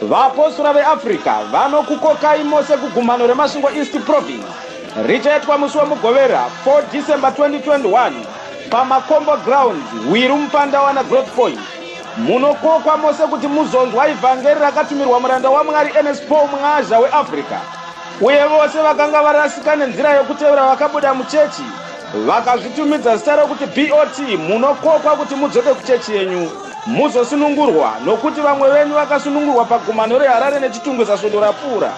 Vaapostora veAfrica vanokukokai mose kugumhano reMasvingo East Province richaitwa musi weMugovera 4 December 2021 paMakombo Grounds, Hwiru Mupandawana Growth Point. Munokokwa mose kuti muzonzwa ivhangeri rakatumirwa muranda waMwari Ernest Paul Mwazha weAfrica. Uye vose vakanga varasika nenzira yokutevera vakabuda muchechi vakazvitumidza zita rokuti BOT munokokwa kuti mudzoke kuchechi yenyu. Muzosunungurwa, nokuti vamwe venyu vakasunungurwa pagumano reHarare neChitungwiza svondo rapfuura.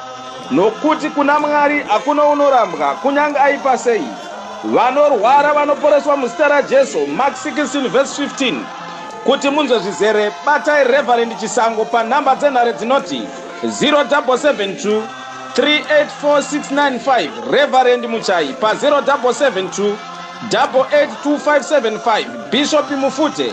Nokuti kuna Mwari hakuna unorambwa, kunyange aipa sei. Vanorwara vanoporeswa muzita raJesu, Mark 16 vs 15. Kuti munzwe zvizere, batai Reverend Chisango panhamba dzenhare dzinoti 0772 384695, Reverend Muchayi pa 0772 882575, Bishop Mufute